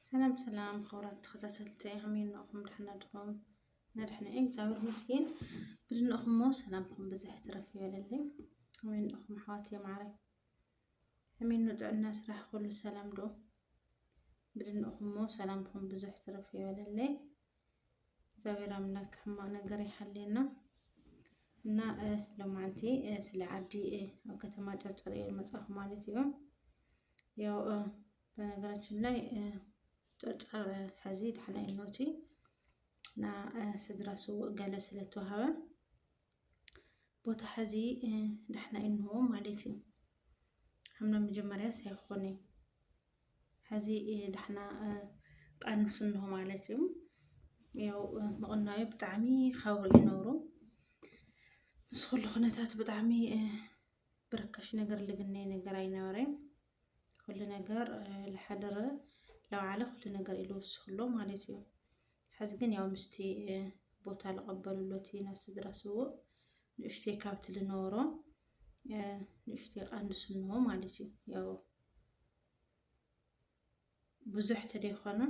ሰላም ሰላም ክቡራት ተኸታተልቲ ከመይ እንኹም ደሕና ድኹም ንድሕና እግዚኣብሔር ይመስገን ብዝንእኹሞ ሰላምኩም ብዝሕ ትረፍ ይበለለይ ከመይ እንኹም ኣሕዋት የማዕረይ ከመይ እኑ ጥዕና ስራሕ ኩሉ ሰላም ዶ ብዝንእኹሞ ሰላምኩም ብዙሕ ትረፍ ይበለለይ እግዚኣብሔር ኣምላክ ሕማቅ ነገር ይሓልየና እና ሎማዓንቲ ስለ ዓዲ ኣብ ከተማ ጨርጨር እየ መፅኣኹ ማለት እዩ። ያው በነገራችን ላይ ጨርጨር ሕዚ ዳሕና እኖቲ እና ስድራ ስውእ ገለ ስለተዋሃበ ቦታ ሕዚ ዳሕና እንሆ ማለት እዩ ሓምና መጀመርያ ሳይኾነ ሕዚ ዳሕና ቃንሱ እንሆ ማለት እዩ ያው ምቕናዩ ብጣዕሚ ኻውር ይነብሩ ምስ ኩሉ ኩነታት ብጣዕሚ ብርካሽ ነገር ልግነይ ነገር ኣይነበረን ኹሉ ነገር ልሓደረ ለውዓለ ኹሉ ነገር እዩ ልውስኽሎ ማለት እዩ። ሕዚ ግን ያው ምስቲ ቦታ ልቐበልሎቲ ናብ ስድራ ስውእ ንእሽተይ ካብቲ ልነበሮ ንእሽተይ ቃንሱ እንሆ ማለት እዩ ያው ብዙሕ ተደይኮኑ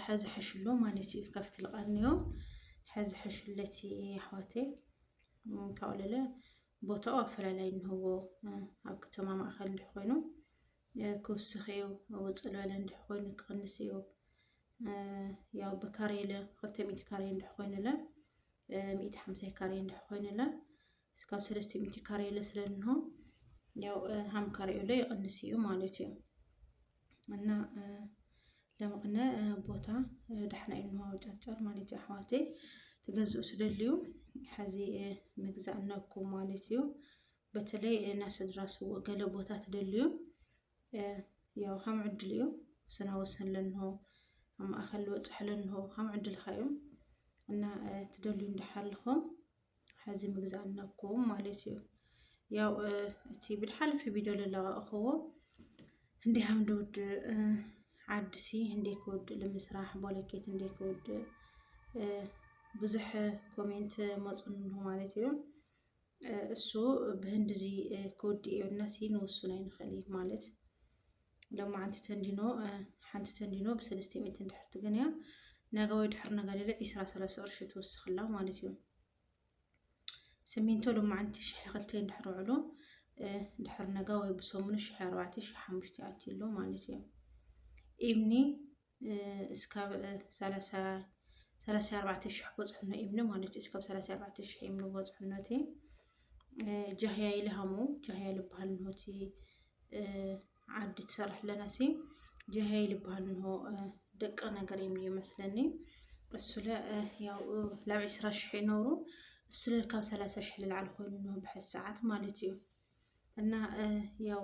ሐዚ ሐሽሎ ማለት እዩ ከፍት ልቀንዮ ሐዚ ሐሽለት ኣሕዋቴ ካብኡ ለለ ቦታኡ ኣፈላላይ እንህዎ ኣብ ከተማ ማእኸል እንድሕ ኮይኑ ክውስኽ እዩ ውፅእ ዝበለ እንድሕ ኮይኑ ክቕንስ እዩ ያው ብካሬለ ክልተ ሚእቲ ካሬ እንድሕ ኮይኑለ ሚእቲ ሓምሳ ካሬ እንድሕ ኮይኑለ እስካብ ሰለስተ ሚእቲ ካሬ ለስለ እንሆ ያው ሀም ካሬው ላይ ይቅንስ እዩ ማለት እዩ እና ለምቕነ ቦታ ዳሕና እዩ እንሆ ጨርጨር ማለት እዩ ኣሕዋተይ ትገዝኡ ትደልዩ ሕዚ ምግዛእ ነኩ ማለት እዩ በተለይ ናስድራ ስዎ ገለ ቦታ ትደልዩ ያው ሀም ዕድል እዩ ስና ወሰን ለንሆ ኣብ ማእኸል ወፅሕ ለንሆ ሀም ዕድልካ እዩ እና ትደልዩ እንዳሓልኹም ሕዚ ምግዛእ ኣለኩም ማለት እዩ ያው እቲ ብድሓልፊ ቪድዮ ዝለቐቕኽዎ እንዲህ ሓምድ ውድእ ዓድሲ እንዴ ክውድእ ንምስራሕ ቦለኬት እንዴ ክውድእ ብዙሕ ኮሜንት መፁንሁ ማለት እዩ እሱ ብህንድዚ ክውድእ እዮናሲ ንውሱን ኣይንኽእል ማለት ሎማዓንቲ ተንዲኖ ሓንቲ ተንዲኖ ብሰለስተ ሚእቲ እንድሕር ትገንያ ነጋ ወይ ድሕር ነጋ ሌለ ዒስራ ሰላሳ ቅርሺ ትወስኸላ ማለት እዩ ስሚንቶ ሎማዓንቲ ሽሕ ክልተ እንድሕር ውዕሎ ድሕር ነጋ ወይ ብሰሙኑ ሽሕ ኣርባዕተ ሽሕ ሓሙሽተ ኣትዩ ኣሎ ማለት እዩ ኢምኒ እስካብ ሰላሳ ሰላሳ ኣርባዕተ ሽሕ በጽሑኖ ኢምነ ማለት እዩ እስካብ ሰላሳ ኣርባዕተ ሽሕ ኢምነ በጽሑኖ እቲ ጃህያ ይልሃሙ ጃህያ ልበሃል እንሆ እቲ ዓዲ ትሰርሕ ኣለና ሲ ጃህያ ይልበሃል እንሆ ደቂ ነገር እዮም ይመስለኒ እሱለ ያው ላብ ዕስራ ሽሕ ይነብሩ እሱለ ካብ ሰላሳ ሽሕ ልላዕሊ ኮይኑ እንሆ ብሐዚ ሰዓት ማለት እዩ እና ያው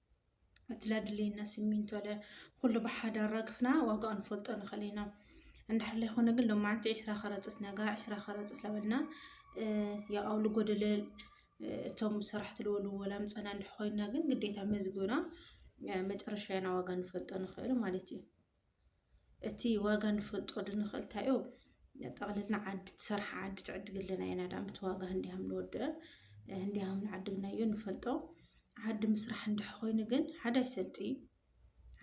እቲ ለድልየና ሲሚንቶ ለ ኩሉ ብሓደ ኣራግፍና ዋጋኡ ንፈልጦ ንኽእል ኢና እንድሕር ዘይኮነ ግን ሎማዓንቲ ዒስራ ከረፅት ነጋ ዒስራ ከረፅት ለበልና ያው ኣብ ልጎደለ እቶም ሰራሕቲ ልወሉ ወላ ምፀና እንድሕ ኮይና ግን ግዴታ መዝግብና መጨረሻና ዋጋ ንፈልጦ ንኽእል ማለት እዩ እቲ ዋጋ ንፈልጦ ድንኽእል እንታይ እዩ ጠቕልልና ዓዲ ትሰርሓ ዓዲ ትዕድግልና ኢና ዳም እቲ ዋጋ ህንዲያም ንወድእ ህንዲያም ንዓድግናዮ ንፈልጦ ዓዲ ምስራሕ እንድሕ ኮይኑ ግን ሓደ ኣይሰልጥ እዩ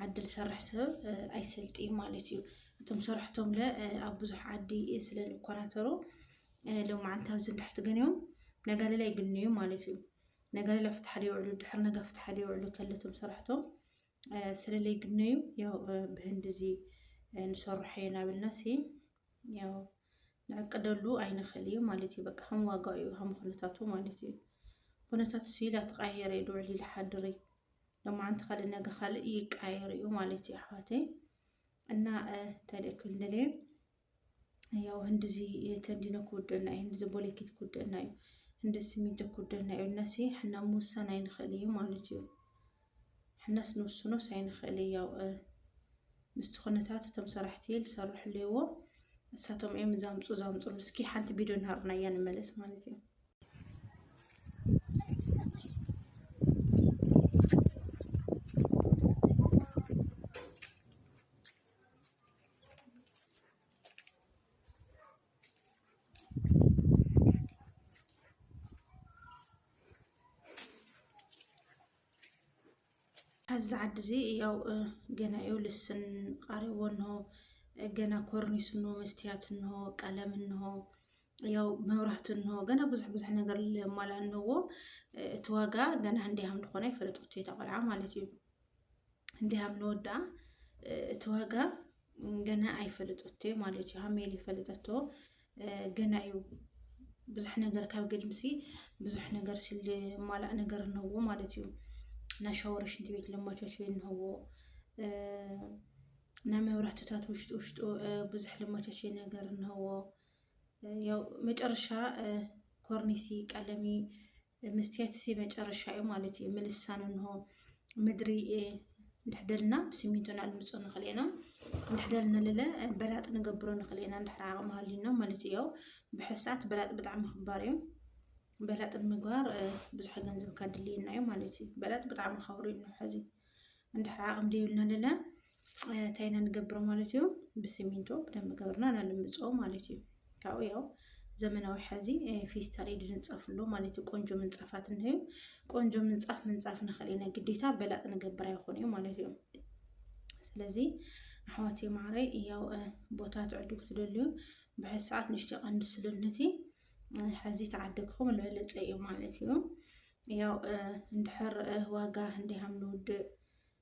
ዓዲ ዝሰርሕ ሰብ ኣይሰልጥ እዩ ማለት እዩ እቶም ሰራሕቶም ለ ኣብ ብዙሕ ዓዲ ስለ ዝኮናተሩ ሎማዓንቲ ኣብዚ እንድሕ ትገንዮም ነጋሌላ ይግንዩ ማለት እዩ ነጋሌላ ፍትሓ ይውዕሉ ድሕር ነገ ፍትሓ ይውዕሉ ከለቶም ሰራሕቶም ስለለይ ግነዩ ያው ብህንዲ እዚ ንሰርሖ የናብልና ሲ ያው ንዕቅደሉ ኣይንኽእል እዩ ማለት እዩ በቃ ከም ዋጋ እዩ ከም ኩነታቱ ማለት እዩ ኩነታት ሲ ዳተቃየረ እዩ ድውዕል ይልሓድር እዩ ሎማዓንቲ ካልእ ነገ ካልእ ይቃየር እዩ ማለት እዩ ኣሕዋተይ እና እንታይ ደክል ንደለየ ያው ህንድዚ ተንዲኖ ክውድእና እዩ፣ ህንድዚ ቦሌኬት ክውድእና እዩ፣ ህንድዚ ሲሚንቶ ክውድእና እዩ እናሲ ሕና ምውሳን ኣይንኽእል እዩ ማለት እዩ። ሕናስ ንውስኖስ ኣይንኽእል እዩ። ያው ምስቲ ኩነታት እቶም ሰራሕቲ ዝሰርሑ ኣለዎ እሳቶም እዮም ዛምፁ ዛምፁሉ። እስኪ ሓንቲ ቪድዮ ናሃርና እያ ንመለስ ማለት እዩ። ኣብዚ ዓዲ እዚ ያው ገና እዩ ልስን ቃሪዎ እንሆ ገና ኮርኒስ እንሆ መስትያት እንሆ ቀለም እንሆ ያው መብራህቲ እንሆ ገና ብዙሕ ብዙሕ ነገር ለማላ እንሆዎ እቲ ዋጋ ገና እንዲሃም ድኾነ ይፈለጥ ውቴታ ቆልዓ ማለት እዩ እንዲህ ኣምንወዳ እቲ ዋጋ ገና ኣይፈለጠቶ እዩ ማለት እዩ ሃሜል ይፈለጠቶ ገና እዩ ብዙሕ ነገር ካብ ግድምሲ ብዙሕ ነገር ሲል ማላእ ነገር እነዎ ማለት እዩ ናይ ሻወር ሽንቲ ቤት ለማቾች እነዎ ናይ መብራህትታት ውሽጡ ውሽጡ ብዙሕ ለማቾች ነገር እነዎ ያው መጨረሻ ኮርኒሲ ቀለሚ መስትያት እዚ መጨረሻ እዩ ማለት እዩ ምልሳን እንሆ ምድሪ እንድሕደልና ብስሚንቶና እንምፅኦ ንኽእል ኢና እንድሕደልና ልለ በላጥ ንገብሮ ንኽእል ኢና እንድሕር ዓቕሚ ሃልዩና ማለት እዩ ብሕሳት በላጥ ብጣዕሚ ክባር እዩ በላጥ ንምግባር ብዙሕ ገንዘብ ካድልየና እዩ ማለት እዩ በላጥ ብጣዕሚ ከብሩ እዩ ሕዚ እንድሕር ዓቕሚ ደይብልና ልለ እንታይ ኢና ንገብሮ ማለት እዩ ብስሚንቶ ብደንብ ገብርና ናልምፆ ማለት እዩ ካብኡ ያው ዘመናዊ ሐዚ ፌስታል ኢድ ንፀፍሎ ማለት እዩ ቆንጆ ምንፃፋት እንሀዩ ቆንጆ ምንፃፍ ምንፃፍ ንኽእል ኢና ግዴታ በላጥ ንገብር ኣይኾን እዩ ማለት እዩ ስለዚ ኣሕዋት ማዕረይ ያው ቦታ ትዕዱ ክትደልዩ ብሕዚ ሰዓት ንሽቲ ቀንዲ ስልነቲ ሐዚ ተዓደግኹም ልበለፀ እዩ ማለት እዩ ያው እንድሕር ዋጋ እንዲሃም ንውድእ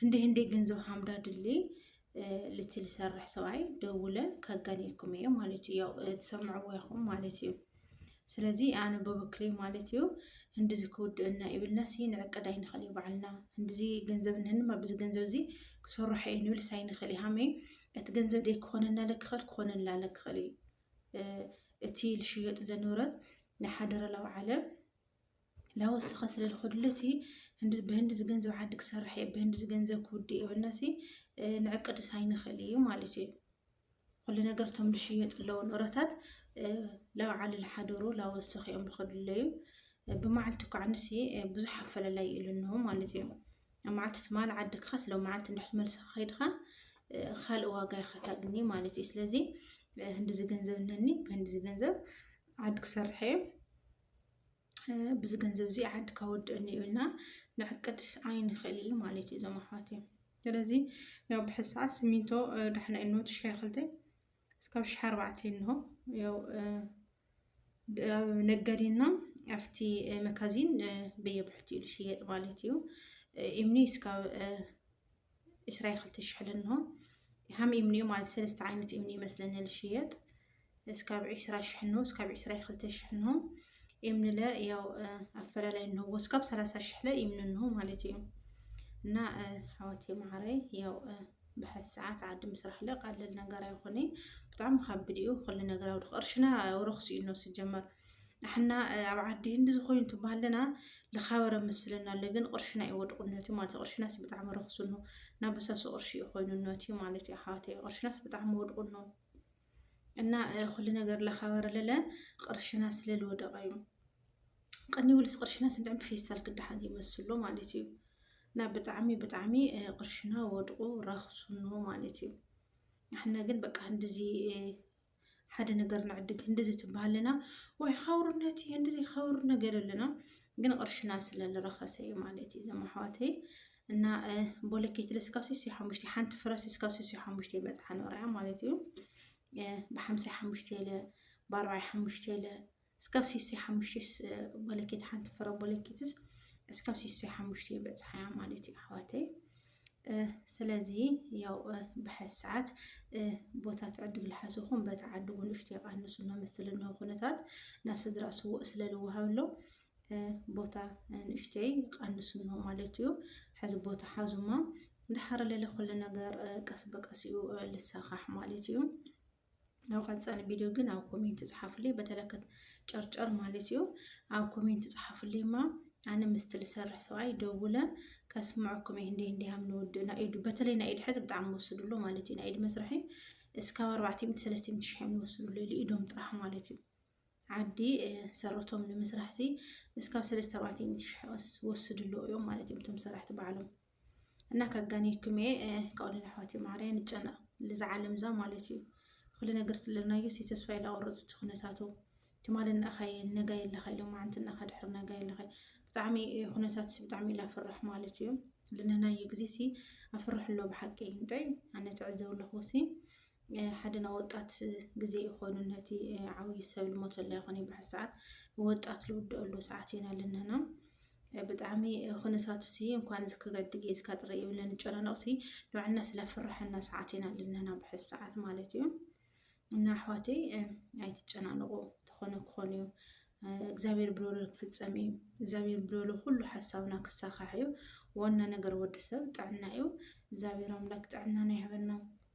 ህንዲ ህንዲ ገንዘብ ሀምዳ ድሌ ልትል ሰርሕ ሰብኣይ ደውለ ከጋኔኩም እየ ማለት እዩ ያው ትሰምዕዎ ይኹም ማለት እዩ ስለዚ ኣነ በበክሪ ማለት እዩ ህንዲዚ ክውድእና ይብልና ሲ ንዕቅድ ኣይንኽእል እዩ ባዕልና ህንዲዚ ገንዘብ ንህንማ ብዚ ገንዘብ እዚ ክሰርሖ እዩ ንብል ሳይንኽእል እዩ ሃመይ እቲ ገንዘብ ደይ ክኾነና ለክኽእል ክኾነና ለክኽእል እዩ እቲ ልሽየጥ ለንብረት ናይ ሓደረላዊ ዓለም ላወስኻ ስለ ዝኸድሉ እቲ ብህንዲ ዝገንዘብ ዓዲ ክሰርሕ እየ ብህንዲ ዝገንዘብ ክውድእ እየ በልናሲ ንዕቅድስ ኣይንኽእል እዩ ማለት እዩ ኩሉ ነገር እቶም ዝሽየጡ ኣለዉ ንረታት ላብ ዓሊ ዝሓደሩ ላወስኽ እዮም ዝኸድለዩ ብመዓልቲ እኳ ንሲ ብዙሕ ኣፈላላይ ኢሉ እንሆ ማለት እዩ ኣብ መዓልቲ ትማል ዓድካ ስለ መዓልቲ እንድሕት መልስኻ ከይድካ ካልእ ዋጋ ኢኻ ታግኒ ማለት እዩ ስለዚ ህንዲ ዝገንዘብ እነኒ ብህንዲ ዝገንዘብ ዓዲ ክሰርሐ እዩ ብዚ ገንዘብ እዚ ዓድካ ወድእኒ ኢልና ንዕቅድ ኣይንኽእል እዩ ማለት እዩ እዞም ኣሕዋት እዮም ስለዚ ያው ብሕዚ ሰዓት ሲሚንቶ ዳሕና እኖ ትሽሐ ክልተ እስካብ ሽሐ ኣርባዕተ እንሆ ያው ነጋዴና ኣብቲ መካዚን በየብሕቲ እዩ ዝሽየጥ ማለት እዩ እምኒ እስካብ ዕስራ ክልተ ሽሕ ለንሆ ሃም እምኒ እዩ ማለት ሰለስተ ዓይነት እምኒ ይመስለኒ ልሽየጥ እስካብ ዕስራ ሽሕ እንሆ እስካብ ዕስራ ክልተ ሽሕ እንሆ እምኒ ለ ያው ኣፈላላይ እንሆዎ እስካብ ሰላሳ ሽሕ ለ እምኒ እንሆ ማለት እዩ እና ኣሕዋት መዓረይ ያው ብሓት ሰዓት ዓዲ ምስራሕ ለ ቃልል ነገር ኣይኮነ ብጣዕሚ ካብድ እዩ ኩሉ ነገራዊ ቅርሽና ረክሲ እዩ ነው ስጀመር ንሕና ኣብ ዓዲ ህንዲ ዝኾይኑ ትባሃለና ልኻበረ ምስልና ኣሎ ግን ቅርሽና እዩ ወድቑ ነትዩ ማለት እዩ ቅርሽናስ ብጣዕሚ ረኽሱ ኖ ናብ በሳሱ ቅርሺ እዩ ኮይኑ ነትዩ ማለት እዩ ኣሕዋተይ ቅርሽናስ ብጣዕሚ ወድቑ ኖ እና ኩሉ ነገር ለኻበረ ለለ ቅርሽና ስለልወደቐ እዩ ቅኒ ውልስ ቅርሽና ስንድዕም ብፌስታል ክዳሓን ዘይመስሎ ማለት እዩ እና ብጣዕሚ ብጣዕሚ ቅርሽና ወድቑ ረኽሱኖ ማለት እዩ ንሕና ግን በቃ እንደዚ ሓደ ነገር ንዕድግ እንደዚ ትበሃለና ወይ ኸውርነት እዩ እንደዚ ኸውር ነገር ኣለና ግን ቅርሽና ስለዝረኸሰ እዩ ማለት እዩ ዘም ኣሕዋተይ እና ቦለኬት ለስካብ ስስ ሓሙሽተ ሓንቲ ፍረስ ስካብ ስስ ሓሙሽተ ይበፅሓ ነርያ ማለት እዩ ብሓምሳ ሓሙሽተ ኢለ ብኣርባዕ ሓሙሽተ ኢለ እስካብ ሲሳይ ሓሙሽቴስ ቦለኬት ሓንቲ ፍረ ቦለኬትስ እስካብ ሲሳይ ሓሙሽተ ይበፅሓያ ማለት እዩ ኣሕዋተይ ስለዚ ያው ብሐዚ ሰዓት ቦታ ትዕድግ ልሓሰኹም በቲ ዓድጉ ንእሽቶ የቃንሱ መመስል እነሆ ኩነታት ናብ ስድራ ስውእ ስለ ዝወሃብሎ ቦታ ንእሽተይ ቃንሱ እነሆ ማለት እዩ ሕዚ ቦታ ሓዙማ ድሓር ለለ ኩሉ ነገር ቀስ በቀስ እዩ ልሳኻሕ ማለት እዩ ናብ ቀፃሊ ቪድዮ ግን ኣብ ኮሜንት ፅሓፍለይ በተለከት ጨርጨር ማለት እዩ ኣብ ኮሜንት ፅሓፍለይ ማ ኣነ ምስቲ ዝሰርሕ ሰብኣይ ደውለ ከስምዐኩም እየ እንደ እንዲሃም ንወዲ ናይ ኢዱ በተለይ ናይ ኢድ ሕዚ ብጣዕሚ ወስድሉ ማለት እዩ ናይ ኢድ መስርሒ እስካብ ኣርባዕተ ሚእቲ ሰለስተ ሚእቲ ሽሕ እዮም ዝወስድሉ ኢሉ ኢዶም ጥራሕ ማለት እዩ ዓዲ ሰረቶም ንምስራሕ ሲ እስካብ ሰለስተ ኣርባዕተ ሚእቲ ሽሕ ወስድሉ እዮም ማለት እዮም እቶም ሰራሕቲ ባዕሎም እና ከጋኔኩም እየ ከኦልን ኣሕዋት ማርያ ንጨነቅ ልዛ ዓለም እዛ ማለት እዩ ኩሉ ነገር ትለናዮ ሲ ተስፋ የላቆረፅ እቲ ኩነታቱ ትማል እናኻየ ነጋ የለኻ ኢሎም ማዓንቲ እናኻ ድሕር ነጋ የለኻ ብጣዕሚ ኩነታት ሲ ብጣዕሚ ኢላ ፍራሕ ማለት እዩ ልነናዮ ግዜ ሲ ኣፍርሕ ኣሎ ብሓቂ እንታይ ኣነ ትዕዘብ ኣለኹ ሲ ሓደ ናይ ወጣት ግዜ ኢኮኑ ነቲ ዓብዩ ሰብ ልሞተላ ይኮን ይበሓት ሰዓት ወጣት ልውደኣሉ ሰዓት ኢና ልንህና ብጣዕሚ ኩነታት ሲ እንኳን እዚ ክገድ ጌዝካ ጥረ ይብለ ንጨናነቕ ሲ ንባዕልና ስለ ፍርሐና ሰዓት ኢና ልንህና ብሐዚ ሰዓት ማለት እዩ እና ኣሕዋተይ ኣይትጨናነቑ ተኾነ ክኾን እዩ እግዚኣብሔር ብሎሎ ክፍፀም እዩ እግዚኣብሔር ብሎሎ ኩሉ ሓሳብና ክሳካሕ እዩ ዋና ነገር ወዲ ሰብ ጥዕና እዩ እግዚኣብሔር ኣምላክ ጥዕናና ይሃበና